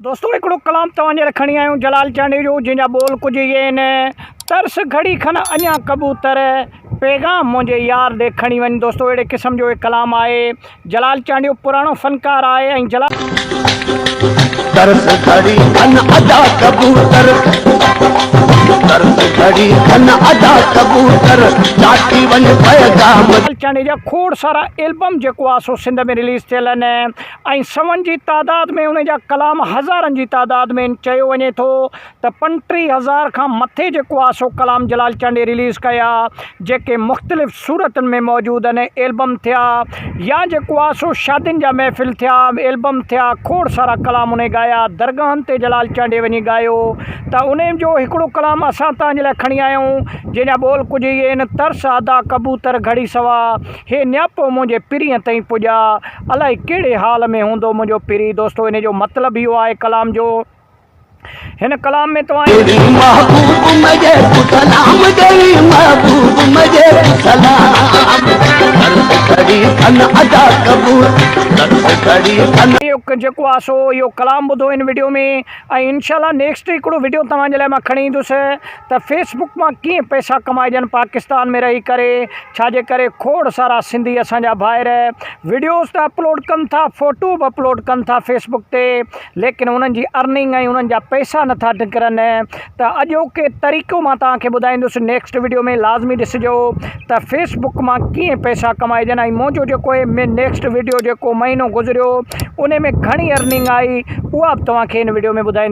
دوستو هڪڙو ڪلام توهان جي لاء کڻي آيون جلال چانڊيو جو جنهن جا ٻول ڪجهه اهي آهن ترس گهڙي کن اڃا ڪبوتر پيغام منهنجي يار ڏي کڻي وڃ دوستو اهڙي قسم جو هي ڪلام آهي جلال چانڊيو پراڻو فنڪار آهي ۽ جلال ترس گهڙي کن ادا ڪبوتر ترس گهڙي کن ادا ڪبوتر چاٽي وڃ پيغام جلال چانڊيو جا کوڙ سارا البم جيڪو آهي سو سنڌ ۾ رليز ٿيل آهن ۽ سون جي تعداد ۾ ان جا ڪلام هزارن جي تعداد ۾ آهن چيو وڃي ٿو ته پنٽيهه هزار کان مٿي جيڪو آهي سو ڪلام جلال چانڊيي رليز ڪيا جيڪي مختلف صورتن ۾ موجود آهن ايلبم ٿيا يا جيڪو آهي سو شادين جا محفل ٿيا ايلبم ٿيا کوڙ سارا ڪلام انهي ڳايا درگاهن تي جلال چانڊيي وڃي ڳايو ته انهي جو هڪڙو ڪلام اسان تنهنجي لاء کڻي آيا آهيون جنهن جا ٻول ڪجهه اهي آهن ترس ادا ڪبوتر گهڙي سوا هي نياپو منهنجي پرينء تائين پڄا، الائي ڪهڙي حال ۾ هوندو منهنجو پرين. دوستو ان جو مطلب اهو آهي ڪلام جو هن ڪلام ۾ توهان جي. ڏئي محبوب مجي ڪو سلام ڏئي محبوب مجي ڪو سلام ڪرس گهڙي ٿن ادا قبول ڪرس گهڙي ٿن. اهو جيڪو آهي سو اهو ڪلام ٻڌو هن وڊيو ۾ ۽ انشاء الله نيڪسٽ هڪڙو وڊيو توهان جي لاء مان کڻي ايندس. ته فيس بڪ مان ڪيئن پئسا ڪمائجن پاڪستان ۾ رهي ڪري ڇا جي ڪري کوڙ سارا سنڌي اسان جا ڀائر وڊيوز ته اپلوڊ ڪن ٿا فوٽو به اپلوڊ ڪن ٿا فيس بڪ تي ليڪن انهن جي ارننگ ۽ انهن جا پئسا نٿا نڪرن ته اڄوڪي طريقو مان توهان کي ٻڌائيندس نيڪسٽ وڊيو ۾ لازمي ڏسجو ته فيس بڪ مان ڪيئن پئسا ڪمائجن ۽ منهنجو جيڪو هي نيڪسٽ وڊيو جيڪو مهينو گذريو ان ۾ گهڻي ارننگ آئي اها به توهان کي هن وڊيو ۾ ٻڌائيندس